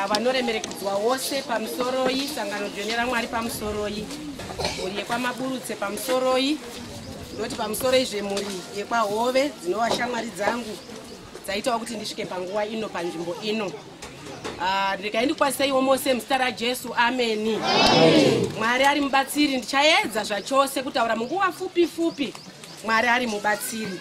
vanoremerekudzwa wose pamusoroi sangano dzvene ramwari pamusoroi mhuri yekwamaburutse pamusoroi ndoti pamusoroi zvemhuri yekwahove dzinova shamwari dzangu dzaitawo kuti ndisvike panguva ino panzvimbo ino ah, regai ndikwaziseiwo mose muzita rajesu ameni mwari ari mubatsiri ndichaedza zvachose kutaura munguva fupi fupi mwari ari mubatsiri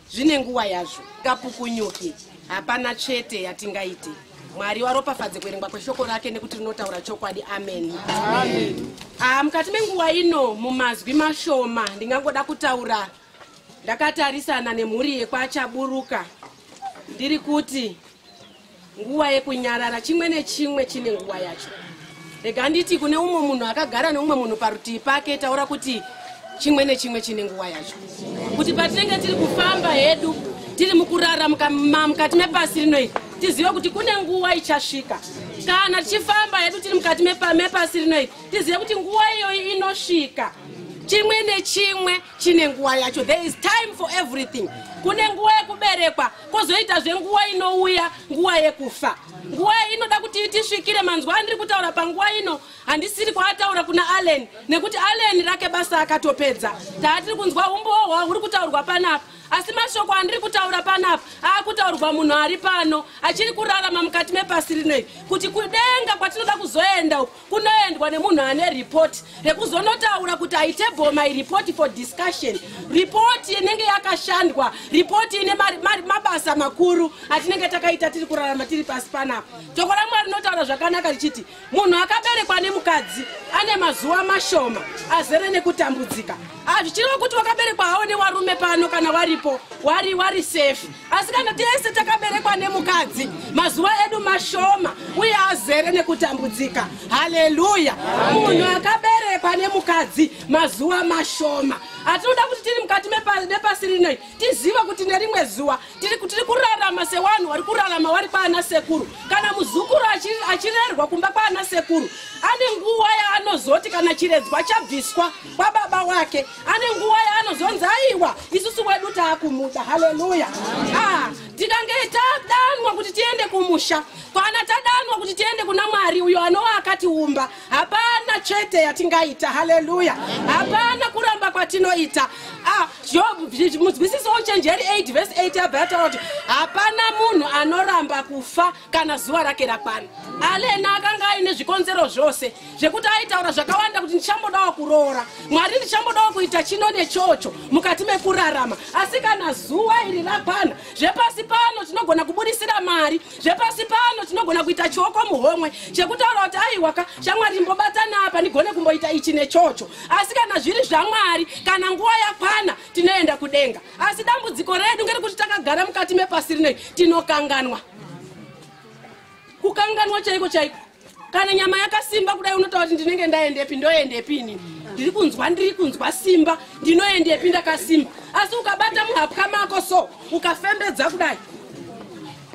zvine nguva yazvo kapukunyuki hapana chete yatingaite mwari waropafadze kuverengwa kweshoko rake nekuti rinotaura chokwadi ameni ah, mukati menguva ino mumazwi mashoma ndingangoda kutaura ndakatarisana nemhuri yekwachaburuka ndiri kuti nguva yekunyarara chimwe nechimwe chine nguva yacho rega nditi kune umwe munhu akagara neumwe munhu parutivi pake taura kuti chimwe nechimwe chine nguva yacho kuti patinenge tiri kufamba hedu tiri mukurara mukati mepasi rino iri tizive kuti kune nguva ichasvika kana tichifamba hedu tiri mukati mepasi rino iri tizive kuti nguva iyoyi inosvika chimwe nechimwe chine nguva yacho there is time for everything kune nguva yekuberekwa kozoita zvenguva inouya nguva yekufa nguva iyi inoda kuti itisvikire manzwa andiri kutaura panguva ino handisiri kwaataura kuna allen nekuti allen rake basa akatopedza taatiri kunzwa umbowo hwa huri kutaurwa panapa asi mashoko andiri kutaura panapa aakutaurwa munhu ari pano achiri kurarama mukati mepasi rinoiri kuti kudenga kwatinoda kuzoenda uku kunoendwa nemunhu ane report rekuzonotaura kuti aitable my report for discussion report inenge yakashandwa report ine mabasa makuru atinenge takaita tiri kurarama tiri pasi panapa toko ramwari rinotaura zvakanaka richiti munhu akaberekwa nemukadzi ane mazuva mashoma azere nekutambudzika hazvichireva kuti wakaberekwa hawo newarume pano kana waripo wari wari safe asi kana tese takaberekwa nemukadzi mazuva edu mashoma uye azere nekutambudzika haleluya munhu akaberekwa nemukadzi mazuva mashoma atinoda kuti tiri mukati nepasi rino tiziva kuti nerimwe zuva tiri kurarama sewanhu wari kurarama wari kwaana sekuru kana muzukuru achirerwa kumba kwaana sekuru ane nguva yaanozoti kana chiredzwa chabviswa kwababa wake ane nguva yaanozonzi aiwa isusu wedu taakumuda haleluya ah, tikange tadanwa kuti tiende kumusha kana tadanwa kuti tiende kuna mwari uyo anova akatiumba hapana chete yatingaita haleluya hapana kuramba kwatinoita ah, mudzwisiso uchenjeri 8 vhesi 8 abva yataura kuti hapana munhu anoramba kufa kana zuva rake rakwana alena akanga aine zvikonzero zvose zvekuti aitaura zvakawanda kuti ndichambodawo kuroora mwari ndichambodawo kuita chino nechocho mukati mekurarama asi kana zuva iri rakwana zvepasi pano tinogona kubudisira mari zvepasi pano tinogona kuita chioko muhomwe chekutaura kuti aiwaka shamwari mbobatana apa ndigone kumboita ichi nechocho asi kana zviri zvamwari kana nguva yakwana tinoenda kudenga asi dambudziko redu ngerekuti takagara mukati mepasi rinei tinokanganwa kukanganwa chaiko chaiko kana nyama yakasimba kudai unotaura kuti ndinenge ndaendepi ndoendepi ini ndiri kunzwa ndiri kunzwa simba ndinoendepi ndakasimba asi ukabata muhapwa mako so ukafembedza kudai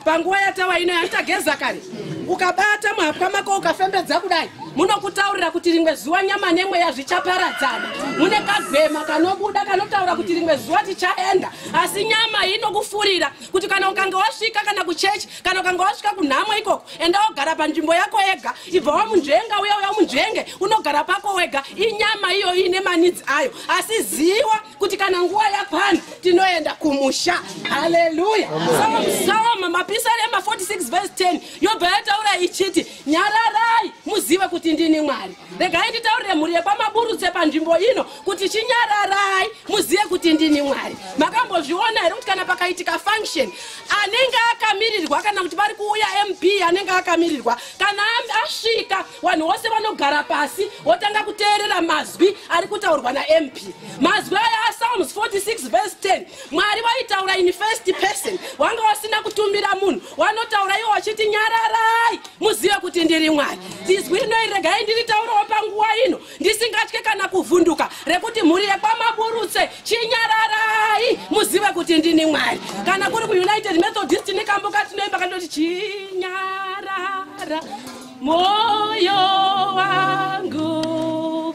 panguva yatawa ino yanditageza kare ukabata muhapwa mako ukafembedza kudai munokutaurira kuti rimwe zuva nyama nemweya zvichaparadzana mune kagwema kanobuda kanotaura kuti rimwe zuva tichaenda asi nyama inokufurira kuti kana ukange wasvika kana kuchechi kana ukange wasvika kunhamo ikoko enda wogara panzvimbo yako yega ibva wamunzvenga uya uya munzvenge unogara pako wega inyama iyo iine manidzi ayo asi ziwa kuti kana nguva yakwana tinoenda kumusha haleluya somusoma mapisari ema 46 vese 10 yobva yataura ichiti nyararai muzive kuti ndini mwari regai nditaurire mhuri yekwamaburutse panzvimbo ino kuti chinyararai muzive kuti ndini mwari makambozviona here kuti kana pakaitika function anenge akamirirwa kana kuti vari kuuya mp anenge akamirirwa kana asvika vanhu vose vanogara pasi votanga kuteerera mazwi ari kutaurwa namp mazwi aya asalms 46 vs 10 mwari vaitaura in first person wanga wasina kutumira munhu wanotaura iwo wachiti nyararai muzive kuti ndiri mwari zizwi rinoi regai ndiritaurawo panguva ino ndisingatye kana kuvhunduka rekuti mhuri yekwamaburutse chinyararai muzive kuti ndini mwari kana kuri kuunited methodist nekamboka tinoimba kandoti chinyarara moyo wangu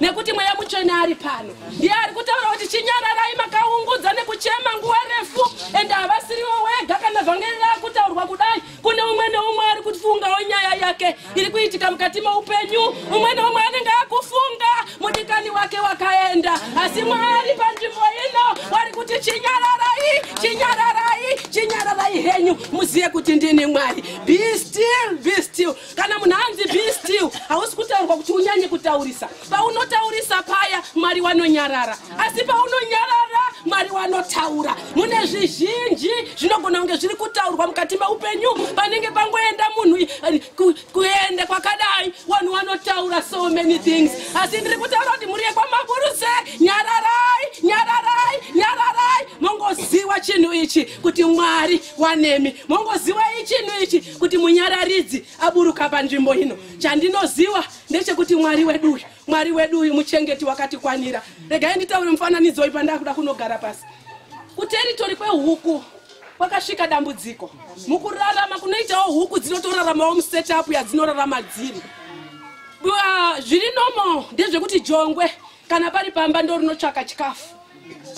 nekuti mweya mutsvene ari pano ndiye ari kutaura kuti chinyararai makaungudza nekuchema nguva refu ende havasiriwo wega kana vhangeri raakutaurwa kudai kune umwe neumwe ari kufungawo nyaya yake iri kuitika mukati meupenyu umwe neumwe anenge akufunga mudikani wake wakaenda asi mwari panzvimbo ino wari kuti chinyararai chinyararai chinyararai henyu muzive kuti ndini mwari be still be still kana munhu anzi be still hausi kutaurwa kuti unyanye kutaurisa paunotaurisa paya mwari wanonyarara asi paunonyarara mwari wanotaura mune zvizhinji zvinogona kunge zviri kutaurwa mukati meupenyu panenge pangoenda munhu eh, kuende kwakadai vanhu vanotaura so many things asi ndiri kutaura kuti mhuri yekwamaburuse nyararai nyararai nyararai mongoziwa chinhu ichi kuti mwari wanemi mongoziwai chinhu ichi kuti munyararidzi aburuka panzvimbo ino chandinoziva ndechekuti mwari wedu uyu mwari wedu uyu muchengeti wakatikwanira regai nditaure mufananidzo uyu pandakuda kunogara pasi kuteritori kwehuku kwakasvika dambudziko mukurarama kunoitawo huku dzinotoraramawo musetup yadzinorarama dziri zviri nomo ndezvekuti jongwe kana pari pamba ndo rinotsvaka chikafu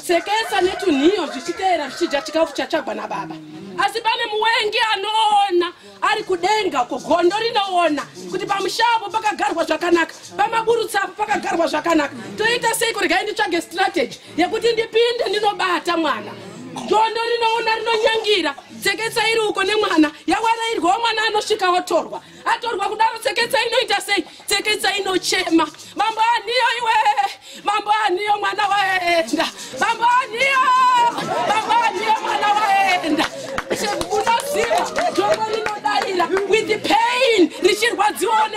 sekesa netunhiyo zvichiteera zvichidya chikafu chatsvagwa nababa asi pane muwengi anoona ari kudenga uko gondo rinoona kuti pamushavo pakagarwa zvakanaka pamaburutsa apo pakagarwa zvakanaka toita sei kurega nditsvage strategy yekuti ndipinde ndinobata mwana gondo rinoona rinonyangira sekesa iri uko nemwana yawarairwawo mwana anosvika otorwa atorwa kudaro tseketsa inoita sei tseketsa inochema mambo aniyo iwe mambo aniyo mwana waenda mambo aniyo mambo aniyo mwana waenda unoziva dzoro rinodarira with the pain richirwadziwawo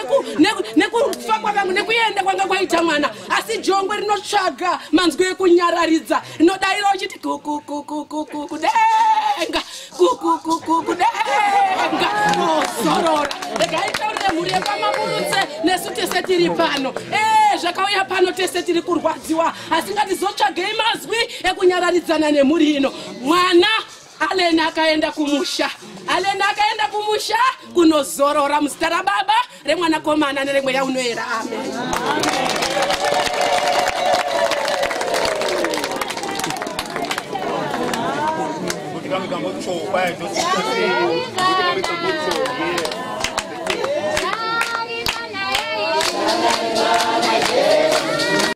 nekufa kwavangu nekuenda kwanga kwaita mwana asi jongwe rinotsvaga manzwi ekunyararidza rinodarira uchiti kukukukukukudenga zorora regai taurire mhuri yekwamamurutse nesu tese tiri pano ee eh, zvakauya pano tese tiri kurwadziwa asi ngatizotsvagei mazwi ekunyararidzana nemhuri ino mwana aleni akaenda kumusha aleni akaenda kumusha kunozorora muzita rababa remwanakomana neremweya unoera amen Yeah.